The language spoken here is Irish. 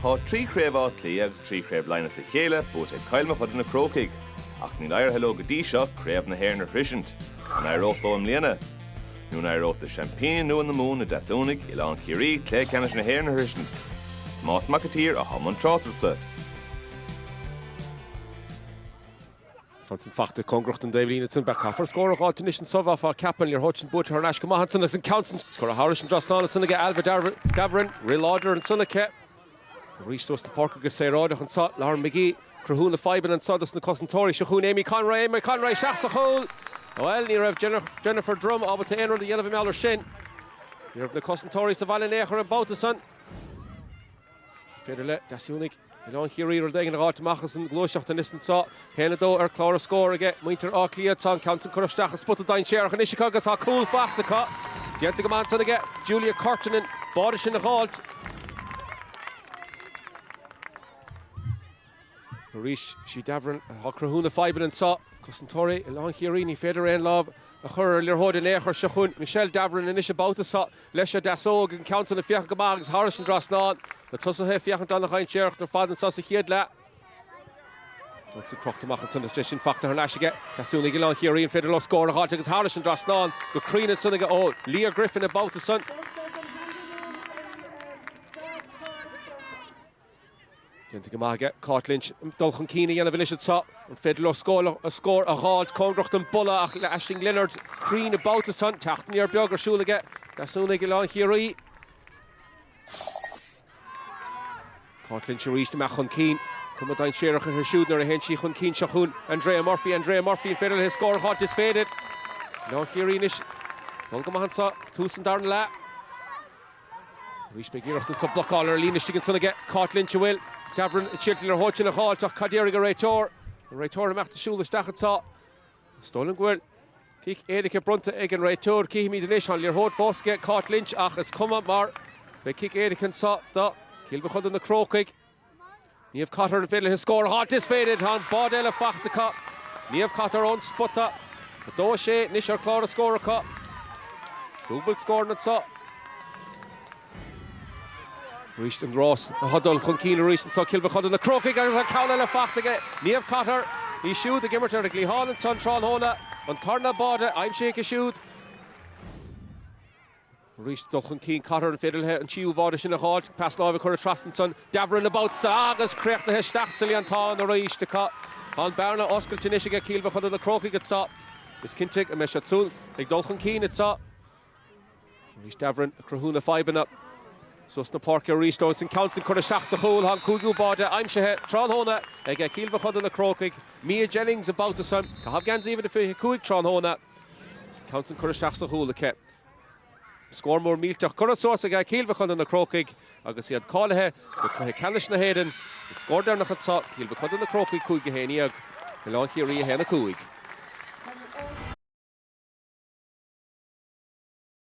Tá trí chraobh Átha Cliath agus trí chraobh Laighean as a chéile buaite ag Cill Mochuda na Crócaigh, ach níl éirithe leo go dtí seo craobh na hÉireann a shroisint. An éireoidh leo i mbliana? Nó an éireoidh le seaimpíní nua na Mumhan, na Deasúnaigh, Oileán Ciarraí, cluiche ceannais na hÉireann a shroisint? Tomás Mac an tSaoir atá i mbun tráchtaireachta. Ansan fachta cóngarach don dtaobhlíne ansan. Beidh caithfear scór a dh'fháilt anois anso, bheifeá ag ceapadh. An liathróid sin buaite thar n-ais go maith ansan agus an ceann san curtha thairis an dtrasnán ansan aige Ailbhe Davoren. Rith láidir ansan aici. Arís suas an páirc agus saoráideach anso. Lauren Magee ag cruthú na fadhbanna anso dos na cosantóirí. Seo chugainn Amy Conroy. Amy Conroy isteach sa chúl. Bhuel, ní raibh Jennifer Drumm ábalta aon rud a dhéanamh mar gheall air sin. Ní raibh na cosantóirí sa bhaile in aon chor an babhta san. féidir le Deasúnaigh Oileán Chiarraí rud éigin a dh'fháilt amach as an ghluaiseacht anois anso. A haon a dó ar chlár an scóir aige muintir Átha Cliath. Tá an ceann san curtha isteach i spota dainséarach anois acu agus tá cúl fachta acu. Déanta go maith ansan aige Julia Curtin an báide sin a dh'fháilt. Arís, sí Davoren atá ag cruthú na fadhbann anso. Cosantóirí Oileán Chiarraí, ní féidir aon lámh a chur ar an liathróid in aon chor. Seo chugainn Michelle Davoren anois an babhta seo. Leis an deasóg agus an ceann san ag féachaint go maith agus thairis an trasnán. Na tosaithe ag féachaint an-dhainséarach ar fad anso sa chéad leath. Agus ag crochta amach ansan is deis sin fachta thar n-ais aige Deasúnaigh Oileán Chiarraí, an féidir leo scór a dh'fháilt agus thairis an dtrasnán go cruinn ansan aige ó Leah Griffin an babhta san. Déanta go maith aige Cáit Lynch dul chun cinn a dhéanamh anois anso. An féidir leo scór a dh'fháilt? Cóngarach don bpolla, Aisling Leonard cruinn an babhta san. Teacht aniar beag ar siúl aige Deasúnaigh Oileán Chiarraí. Cáit Lynch arís amach chun cinn. Cuma dainséarach uirthi siúd nuair a théann sí chun cinn seo chugainn Andrea Murphy. Andrea Murphy an féidir léi scór a dh'fháilt is féidir. Oileán Chiarraí anois ag dul go maith anso. Tús an darna leath. Arís beidh iarracht anso blocáil ar an líne istigh ansan aige Cáit Lynch an bhfuil Davoren ábalta an liathróid sin a dh'fháilt ach cad déarfaidh an réiteoir, an réiteoir ag imeacht de shiúl isteach anso. Is dóigh liom go bhfuil cic éirice bronnta ag an réiteoir, cífimid anois, tá an liathróid fós aige Cáit Lynch ach is cuma mar beidh cic éirice anso do Chill Mochuda na Crócaigh. Niamh Cotter, an féidir léi scór a fháilt? Is féidir! Tá an báide eile fachta acu. Niamh Cotter ón spota. 2, 6 anois ar chlár an scóir acu. Dúbailt scóranna anso. Arís an rás ag dul chun cinn arís anso. Cill Mochuda na Crócaigh agus an ceann eile fachta aige Niamh Cotter, í siúd ag imirt ar an gcliathán anso an tráthnóna. An tarna báide aimsithe aici siúd. Arís, dul chun cinn Cotter an féidir léithe an tríú bháide sin a dh'fháilt, pas láimhe curtha trasna ansan Davoren an babhta so agus críochnaithe isteach sa líontán arís. Tá an bearna oscailte anois aige Cill Mochuda na Crócaigh anseo. Is cinnte go mbeidh siad siúd ag dul chun cinn anseo. Arís Davoren ag cruthú na fadhbanna. Suas na páirce arís leo ansan ceann san curtha isteach sa chúl. Tá an cúigiú báide aimsithe tráthnóna aige Cill Mochuda na Crócaigh, Mia Jennings an babhta san. Caitheamh geansaí uimhir a fiche cúig tráthnóna. Tá an ceann san curtha isteach sa chúl aici. Scór mór millteach curtha suas aige Cill Mochuda, Na Crócaigh, agus iad cáilithe go Cluiche Ceannais na hÉireann. An scór deireanach anseo, Cill Mochuda, Na Crócaigh 5 a 11, Oileán Chiarraí 1 5.